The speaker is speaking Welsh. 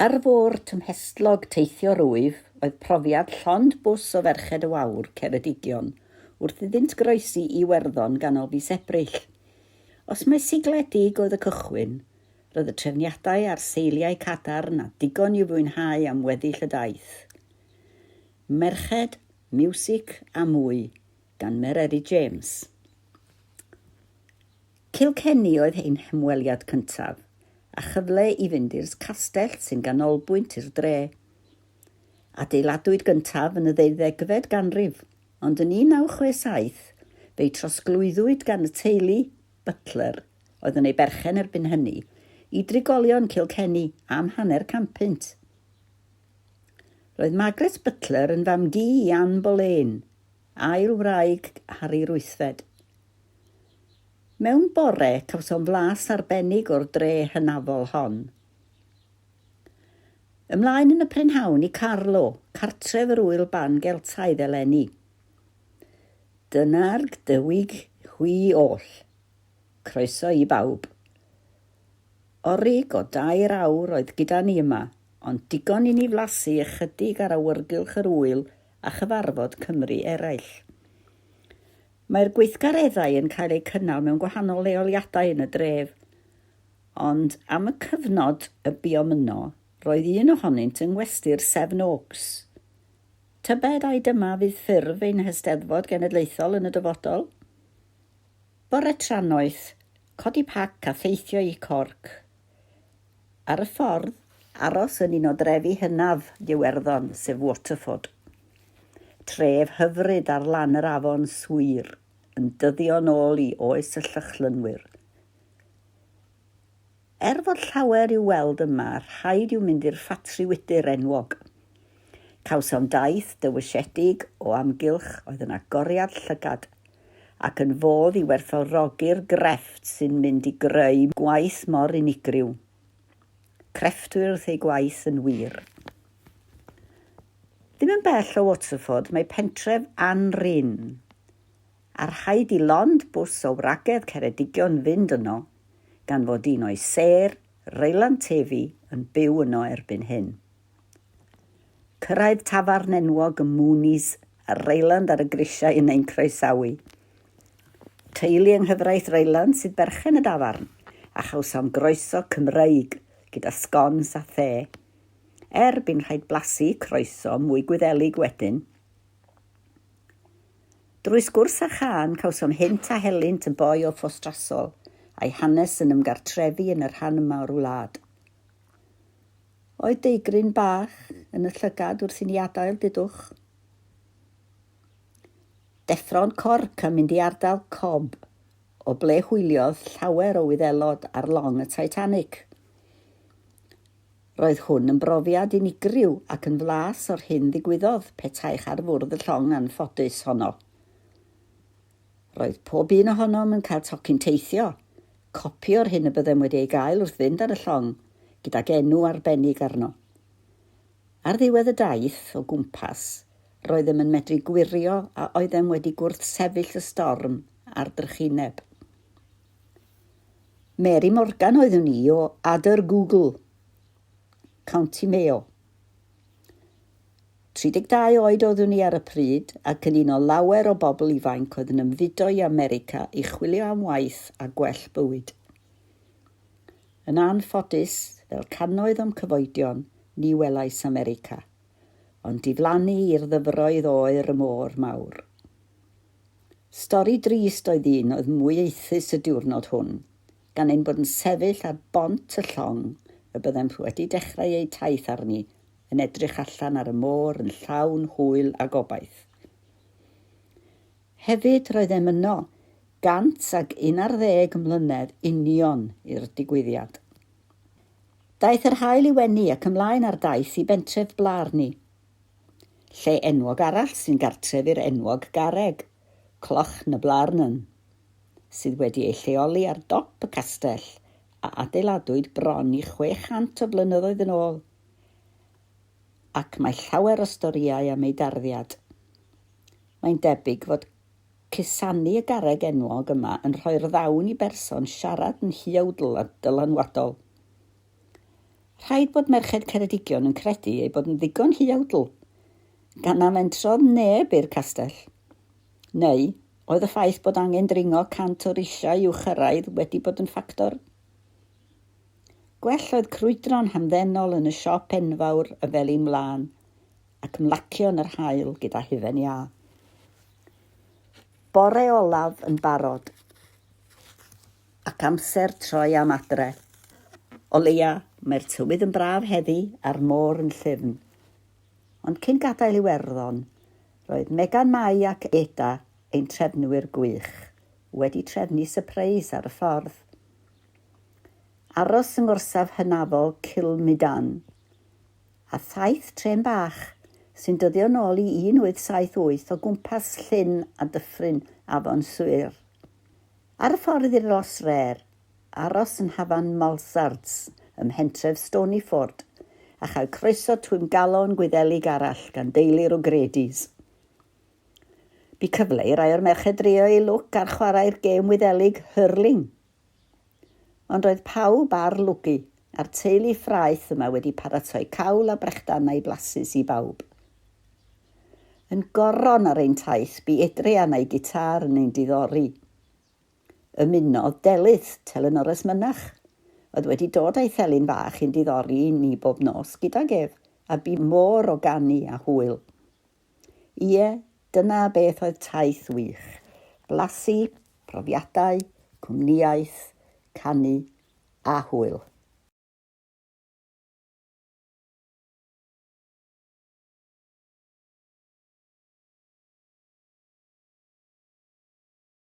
Ar fôr tymhestlog teithio rwyf oedd profiad llond bws o ferched o wawr Ceredigion wrth iddynt groesi Iwerddon ganol fis Ebrill. Os mai sigliau dug oedd y cychwyn, roedd y trefniadau a'r seiliau cadarn a digon i'w fwynhau am weddill y daith. Merched, miwsig a mwy gan Mererid James. Kilkenny oedd ein hymweliad cyntaf, a chyfle i fynd i'r castell sy'n ganolbwynt i'r dre. Adeiladwyd gyntaf yn y ddeuddegfed ganrif, ond yn 1967 fe'i trosglwyddwyd gan y teulu Butler, oedd yn ei berchen erbyn hynny, i drigolion Kilkenny am hanner cant punt. Roedd Margaret Butler yn fam-gu i Anne Boleyn, ail wraig Harri Ruthfed. Mewn bore, cawsom flas arbennig o'r dre hynafol hon. Ymlaen yn y prynhawn i Carlo, cartref yr ŵyl ban Geltaidd eleni. Dyna'r Gdywig hwy oll. Croeso i bawb. Orig o dair awr oedd gyda ni yma, ond digon i ni flasu ychydig ar awyrgylch yr ŵyl a chyfarfod Cymry eraill. Mae'r gweithgareddau yn cael eu cynnal mewn gwahanol leoliadau yn y dref, ond am y cyfnod y buom yno, roedd un ohonynt yng Ngwesty'r Seven Oaks. Tybed ai dyma fydd ffurf ein hYsteddfod Genedlaethol yn y dyfodol? Bore trannoeth, codi pac a theithio i Cork. Ar y ffordd, aros yn un o drefi hynaf Iwerddon, sef Waterford. Tref hyfryd ar lan yr afon Suir, yn dyddio nôl i oes y Llychlynwyr. Er fod llawer i'w weld yma, rhaid i'w mynd i'r ffatri wydr enwog. Cawsom daith dywysiedig o amgylch oedd yn agoriad llygad ac yn fodd i werthfawrogi'r grefft sy'n mynd i greu gwaith mor unigryw. Crefftwyr wrth eu gwaith yn wir. Ddim yn bell o Waterford mae pentref Anrhyn, a rhaid i lond bws o wragedd Ceredigion fynd yno gan fod un o'i sêr, Reylan Tefi, yn byw yno erbyn hyn. Cyrraedd tafarn enwog y Moonies ar Reyland ar y grisiau yn ein croesawu. Teulu yng nghyfraith Reyland sydd berchen y dafarn, a chawsom groeso Cymreig gyda sgons a the. Er bu'n rhaid blasu croeso mwy Gwyddelig wedyn. Drwy sgwrs a chân cawsom hynt a helynt y boi o Ffostrasol, a'i hanes yn ymgartrefu yn y rhan yma o'r wlad. Oedd deigryn bach yn y llygad wrth i ni adael Didwch. Deffro'n corc a mynd i ardal Cobb, o ble hwyliodd llawer o Wyddelod ar long y Titanic. Roedd hwn yn brofiad unigryw ac yn flas o'r hyn ddigwyddodd petaech ar fwrdd y llong anffodus honno. Roedd pob un ohonom yn cael tocyn teithio, copi o'r hyn y byddem wedi ei gael wrth fynd ar y llong, gydag enw arbennig arno. Ar ddiwedd y daith o gwmpas, roeddem yn medru gwirio a oeddem wedi gwrthsefyll y storm a'r drychineb. Mary Morgan oeddwn i o Adr Google. County Mayo. 32 oed oeddwn i ar y pryd ac yn un o lawer o bobl ifainc oedd yn ymfudo i America i chwilio am waith a gwell bywyd. Yn anffodus, fel cannoedd o'm cyfoedion, ni welais America, ond diflannu i'r ddyfroedd oer y môr mawr. Stori drist oedd un oedd mwy aethus y diwrnod hwn, gan ein bod yn sefyll ar bont y llong y byddem wedi dechrau eu taith arni, yn edrych allan ar y môr yn llawn hwyl a gobaith. Hefyd, roeddem yno, gant ac un ar ddeg mlynedd union i'r digwyddiad. Daeth yr haul i wenu ac ymlaen ar daith i bentref Blarney. Lle enwog arall sy'n gartref i'r enwog garreg, Cloch na Blarney. sydd wedi ei lleoli ar dop y castell a adeiladwyd bron i 600 o flynyddoedd yn ôl, ac mae llawer o storïau am ei darddiad. Mae'n debyg fod cusanu y garreg enwog yma yn rhoi'r ddawn i berson siarad yn huawdl a dylanwadol. Rhaid bod merched Ceredigion yn credu ei bod yn ddigon huawdl, gan na fentrodd neb i'r castell. Neu, Oedd y ffaith bod angen dringo 100 o risiau i'w chyrraedd wedi bod yn ffactor? Gwell oedd crwydro'n hamddenol yn y siop enfawr y Felin Wlân ac mlacio yn yr haul gyda hufen iâ. Bore olaf yn barod ac amser troi am adre. O leia, mae'r tywydd yn braf heddi a'r môr yn llyfn. Ond cyn gadael Iwerddon, Roedd Megan Mai ac Eda, ein trefnwyr gwych, wedi trefnu sypreis ar y ffordd. Aros yng ngorsaf hynafol Cilmydan, a thaith trên bach sy'n dyddio nôl i 1878 o gwmpas Llyn a Dyffryn Afon Suir. Ar y ffordd i'r Los Rêr, aros yn hafan Malsards ym mhentref Stonyford a chael croeso twymgalon Gwyddelig arall gan deulu'r O'Gradys. Bu cyfle i rai o'r merched drio eu lwc ar chwarae'r gêm Wyddelig Hurling. Ond roedd pawb ar lwgu, a'r teulu ffraeth yma wedi paratoi cawl a brechdanau blasus i bawb. Yn goron ar ein taith bu Adrian a'i gitâr yn ein diddori. Ymunodd Delyth, telynores mynach, oedd wedi dod â'i thelyn fach i'n diddori ni bob nos gydag ef, a bu môr o ganu a hwyl. Ie, dyna beth oedd taith wych, blasu, profiadau, cwmnïaeth, canu a hwyl.